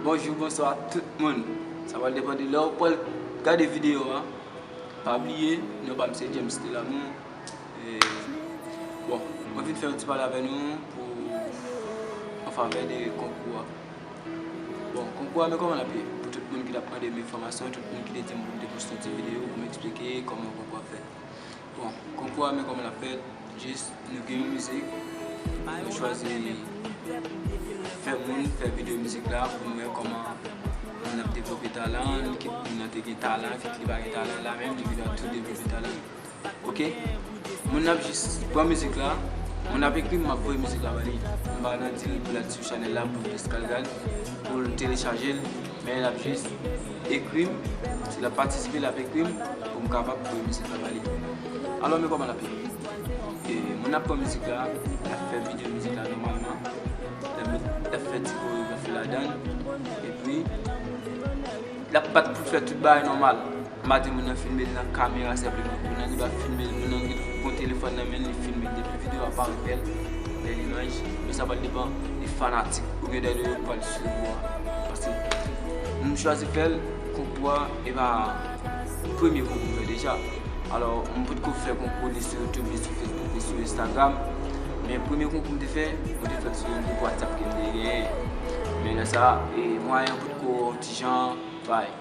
Bonjou bonswa tout moun sa pral depan de lèw pral gade video an pa bliye non pam se James de l'amour bon mwen vin fè yon ti pale avè nou pou an favè de konkou a bon konkou a men kòman lap ye pou tout moun ki tap mandem enfòmasyon tout moun ki te dim poum te poste yon ti video poum eksplike kòman konkou a fèt Bon konkou a men koman lap fèt jis nou gen yon mizik nou chwazi fè moun fè video mizik la pou nou wè koman moun ap devlope talan li kit moun nan te gen talan kit li pa gen talan la menm li vin ap tou devlope talan li ok moun ap jis pran mizik la moun ap ekri map voye mizik la ba li m pa nan dil pou lal sou chanèl la pou jis lal gad poul telechajel. Men lap jis ekrim, si lap patisipe lap ekrim pou m kapab voye mizik la ba li. Alò men kòman lap ye. E moun ap pran mizik la, lap fè video mizik la nòmalman, lap met lap fè ti koregrafi ladann, epi lap bat pou fè tout bagay nòmal. Madi moun nan filme l nan kamera sèvant nan tou nan li pa filme l moun nan gen yon telefòn nan men l li filme l depi video a parèt bèl bèl imaj men sa pral depan de fanatik ou byen de lè yo pral swiv ou a paske m chwazi fè l konkou a epa premye konkou m fè deja alò m potko fè konkou ni sou youtube ni sou facebook ni sou instagram men premye konkou m te fè mwen te fè l sou yon gwoup whatsapp ke m te genyen men lè sa mwayen an potko ti jan bay.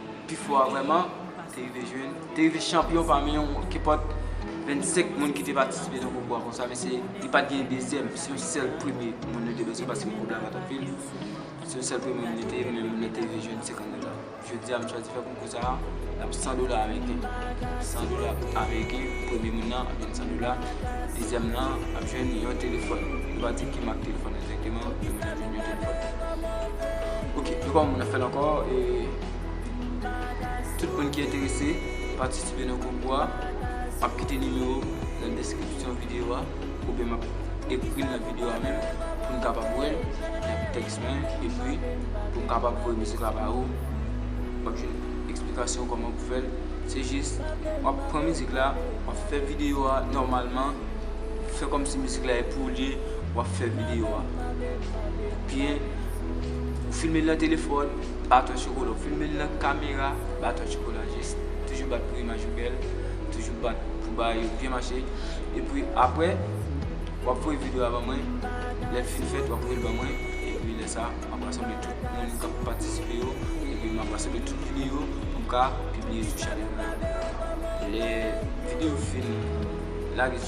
Pi fò a vrèman te rive jwenn, te rive chanpyon pami yon kenpòt 25 moun ki te patisipe nan konkou a konsa mesye li pat gen dezyèm se yon sèl premye moun nou te bezwen paske konkou la pat anpil se yon sèl premye moun li te men moun nan te rive jwenn 50 dola jodi a m chwazi fè konkou sa n ap 100 dola ameriken 100 dola ameriken premye moun nan ap jwenn 100 dola dezyèm nan ap jwenn yon telefòn nou pa di ki mak telefòn nan te gen. E mwen menm mwen te vin ret epòt la. Ok, nou pa wè moun ap fèl ankò e tout moun ki enterese patisipe nan konkou a, map kite nimewo nan deskripsyon videyo a oubyen map ekril nan videyo a menm pou nou kapab wèl nan tèks mwen epi pou m kapab voye mizik la ba ou, wap jwenn eksplikasyon kòman pou fèl, se jis wap pran mizik la, wap fè videyo a nòmalman, fè kòmsi mizik la e pou ou li ye. Wap fè video a byen ou filme li nan telefòn baton chokola ou filme li nan kamera baton chokola jis toujou bat pou imaj ou bèl toujou bat pou bagay yo byen mache epi aprè wap voye video a ban mwen lèl fin fèt wap voyel ban mwen epi lè sa map rasanble tout moun kap patisipe yo epi map rasanble tout video pou m ka pibliye sou chanèl mwen an lè video fin lage.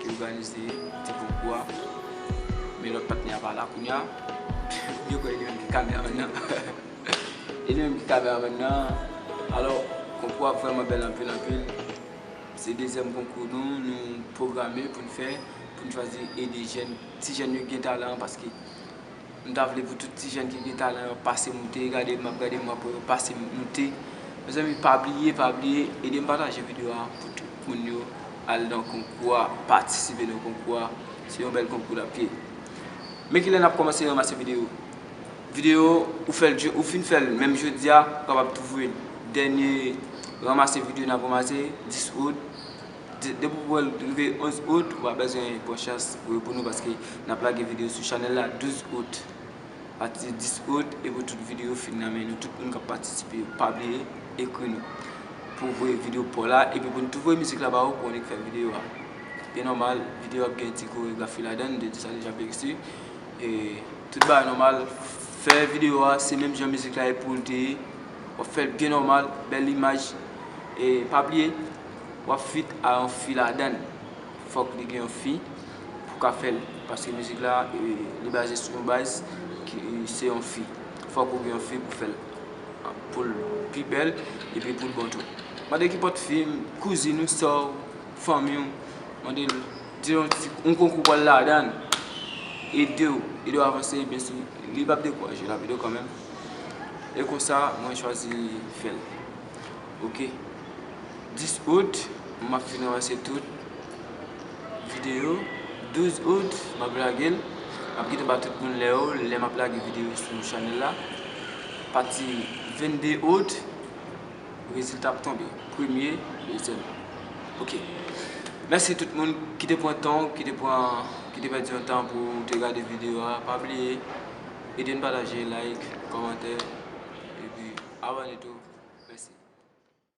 Ki oganize ti group kou a. Men lòt patnè a pa la kounya. Yo kwè e li menm ki kameraman nan. E li menm ki kameraman nan. Alò, konkou a vrèman bèl anpil anpil. Se dezyèm konkou nou, nou pwograme pou n fè. Pou n chwazi ede jèn, ti jèn yo ki gen talan. Paske M ta vle pou tout ti jèn ki gen talan yo pase moute gade map gade mwen pou yo pase moute mezanmi pa bliye pa bliye edem pataje video a pou tout moun yo al nan konkou a patisipe nan konkou a se yon bèl konkou lap ye men kilè nap kòmanse ranmase video video ou fèl ou fin fèl menm jodia ou kapab tou voye dènye ranmase video nap ranmase 10 out Depi ou wèl rive 11 out ou pa bezwen pran chans pou reponn ou paske nap lage video sou chanèl la 12 out apati 10 out epi tout video yo fin nan men nou tout moun kap patisipe yo pa bliye ekri nou pou voye video paw la epi pou nou tou voye mizik la ba ou pou ou ki fè video a e nòmal video ap gen ti koregrafi ladan nou te di sa deja bsy e tout bagay nòmal fè video a se menm jan mizik la ye poul te ye wap fèl byen nòmal bèl imaj e pa bliye. Wap feat a yon fi ladann. Fòk li gen yon fi pou ka fèl paske mizik la li baze sou yon baz ki se yon fi fòk ou gen yon fi pou fèl poul pi bèl epi poul bon tou mande kipòt fi kouzin ou sè w fanmi w mande l di l yon konkou pral ladann ede w ede w avanse byen si li pap dekouraje lap ede w kanmèm e konsa mwen chwazi fèl. ok 10 out m ap fin ranse tout video 12 out m ap lage l m ap kite ba tout moun lè yo lè m ap lage video sou chanèl la pati 22 out rezilta ap tonbe premye dezyèm ok mèsi tout moun ki te pran tan ki te pran ki te pèdi yon tan pou te gade video a pa bliye. Ede n pataje, like, kòmante epi abòne tou. Mèsi.